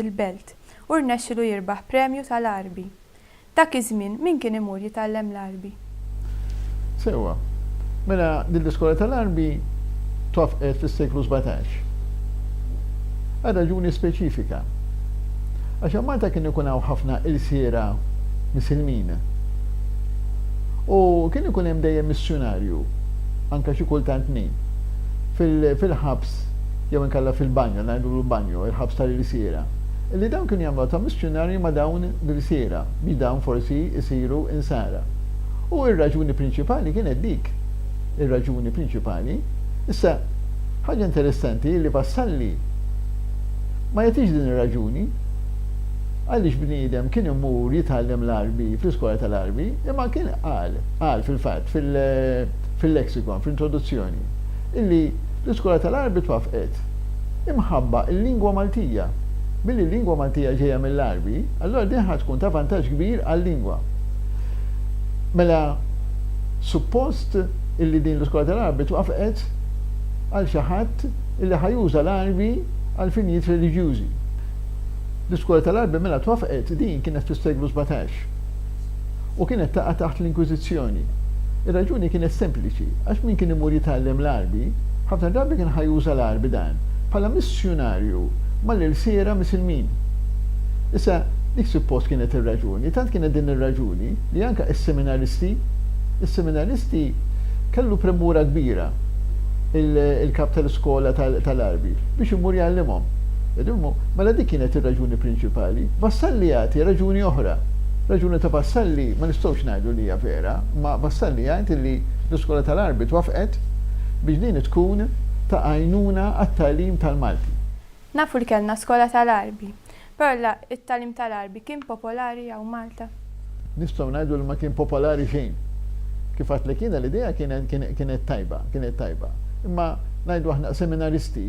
il-Belt, u rnexxilu jirbaħ premju tal-Għarbi. Dak iż-żmien min kien imur jitgħallem l-Għarbi? Sewwa. Mela din l-iskola tal-Għarbi twaffqet fis-seklu sbatax. Għal raġuni speċifika. Għax hemm Malta kien ikun hawn ħafna ilsiera Misilmin. U kien ikun hemm dejjem missjunarju, anke xi kultant tnejn, fil-ħabs. jew inkella fil-banjo, ngħidulu banjo, il-ħabs tal-ilsiera, illi dawn kienu jagħmluha ta' missjunarji ma' dawn l-ilsiera biex dawn forsi jsiru Insara. U r-raġuni prinċipali kienet dik. Ir-raġuni prinċipali. Issa, ħaġa interessanti hi li Vassalli ma jagħtix din ir-raġuni għaliex bniedem kien imur jitgħallem l-Għarbi fl-iskola tal-Għarbi, imma kien qal, qal fil-fatt, fil-Lexicon, fl-introduzzjoni, illi l-iskola tal-Għarbi twaffqet imħabba l-lingwa Maltija. Billi l-lingwa Maltija ġejja mill-Għarbi, allura din ħa tkun ta' vantaġġ kbir għal-lingwa. Mela suppost illi din l-iskola tal-Għarbi twaffqet għal xi ħadd illi ħa juża l-Għarbi għal finijiet reliġjużi. L-iskola tal-Għarbi mela twaffqet din kienet fis-seklu sbatax. u kienet taqa' taħt l-Inkwiżizzjoni. Ir-raġuni kienet sempliċi, għax min kien imur jitgħallem l-Għarbi, ħafna drabi kien ħa juża l-Għarbi dan bħala missjunarju mal-ilsiera Misilmin. Issa, dik suppost kienet ir-raġuni, tant kienet din ir-raġuni li anke is-seminaristi, is-seminaristi kellu premura kbira il-kap tal-iskola tal-Għarbi biex imur jgħallimhom. Mela dik kienet ir-raġuni prinċipali. Vassalli jagħti raġuni oħra. Raġuni ta' Vassalli ma nistgħux ngħidu li hija vera, imma Vassalli jgħid li l-Iskola tal-Arbi twaffqet biex din tkun ta' għajnuna għat-tagħlim tal-Malti. Nafu li kellna Skola tal-Arbi, però la t-tagħlim tal-Arbi kien popolari hawn Malta. Nistgħu ngħidu li ma kien popolari xejn. Kif għidtlek jiena l-idea kienet tajba, kienet tajba. Imma ngħidu aħna seminaristi,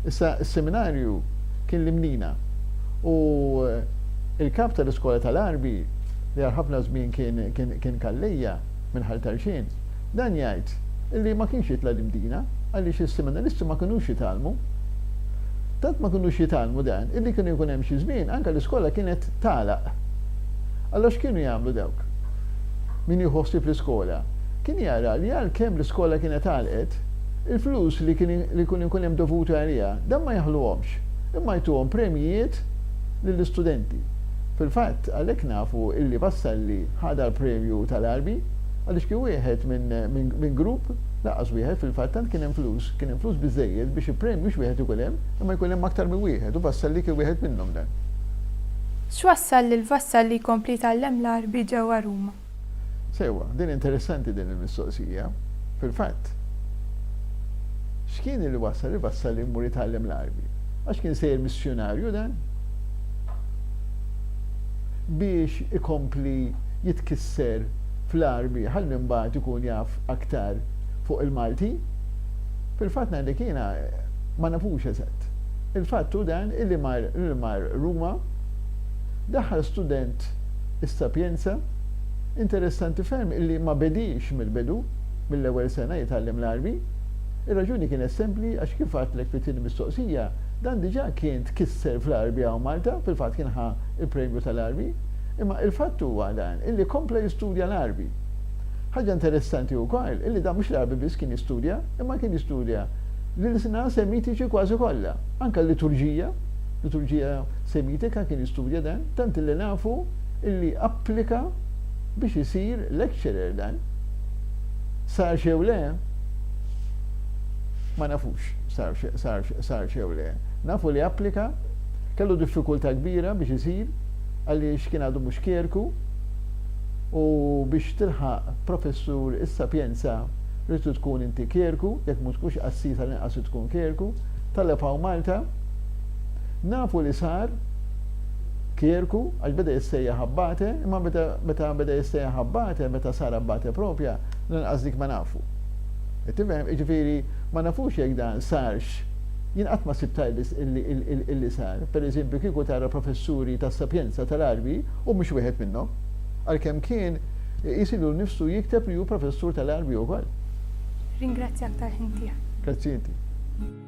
issa s-seminarju kien l-Imnina u, Il-Kap tal-Iskola tal-Għarbi, li għal ħafna żmien kien Kallejja, minn Ħal Tarxien, dan jgħid li ma kienx jitla' l-Imdina għaliex is-Seminaristi ma kinux jitgħallmu. Tant ma kinux jitgħallmu dan illi kienu jkun hemm xi żmien anke l-iskola kienet tagħlaq. Allura x'kienu jagħmlu dawk? Min jieħu ħsieb l-iskola kien jara li għalkemm l-iskola kienet għalqet, il-flus li kien ikun hemm dovuti għaliha dan ma jaħluhomx imma jtuhom premjijiet lill-istudenti. Fil-fatt, għalhekk nafu illi Vassalli ħadha l-premju tal-Għarbi għaliex kien wieħed minn grupp, lanqas wieħed fil-fatt tant kien hemm flus, kien hemm flus biżżejjed biex il-premju mhux wieħed ikun hemm imma jkun hemm aktar minn wieħed u Vassalli kien wieħed minnhom dan. X'wassal lil Vassalli jkompli jtgħallem l-Għarbi ġewwa Ruma? Sewwa, din interessanti din il-mistoqsija. Fil-fatt, x'kien li wassal il-Vassalli jmur jitgħallem l-Għarbi? Għax kien sejjer missjunarju dan? Biex ikompli jitkisser fl-Għarbi ħalli mbagħad ikun jaf aktar fuq il-Malti? Fil-fatt ngħidlek jiena ma nafux eżatt. Il-fatt hu dan illi mar Ruma, daħħal student is-Sapienza, interessanti ferm illi ma bediex mill-bidu, mill-ewwel sena jitgħallem l-Għarbi. Ir-raġuni kienet sempli għax kif għadtlek fit-tieni mistoqsija, dan diġà kien tkisser fl-Għarbi hawn Malta, fil-fatt kien ħa l-premju tal-Għarbi, imma il-fatt huwa dan illi kompla jistudja l-Għarbi. Ħaġa interessanti wkoll illi dan mhux l-Għarbi biss kien jistudja, imma kien jistudja l-ilsna semitiċi kważi kollha, anke l-liturġija, liturġija, Semitika kien jistudja dan, tant li nafu li applika biex isir lecturer dan. Sarx jew le? Ma nafux sarx jew le. Nafu li applika, kellu diffikultà kbira biex isir għaliex kien għadu mhux kjerku u biex tilħaq professur is-Sapienza rrid tkun inti kjerku, jekk mhu tkunx qassis għall-inqas trid tkun kjerku. Talab hawn Malta. Nafu li sar kjerku għax beda jissejjaħ abbate, imma meta beda jissejjaħ abbate, meta sar abbate proprja, lanqas dik ma nafu. Qed tifhem? Jiġifieri ma nafux jekk dan sarx. Jien qatt ma sibt tajb illi sar. Pereżempju kieku tara professuri tas-Sapienza tal-Għarbi, hu mhux wieħed minnhom. Għalkemm kien iqis lilu nnifsu jikteb li hu professur tal-Għarbi wkoll. Ringrazzjak tal-ħin tiegħek. Grazzi inti.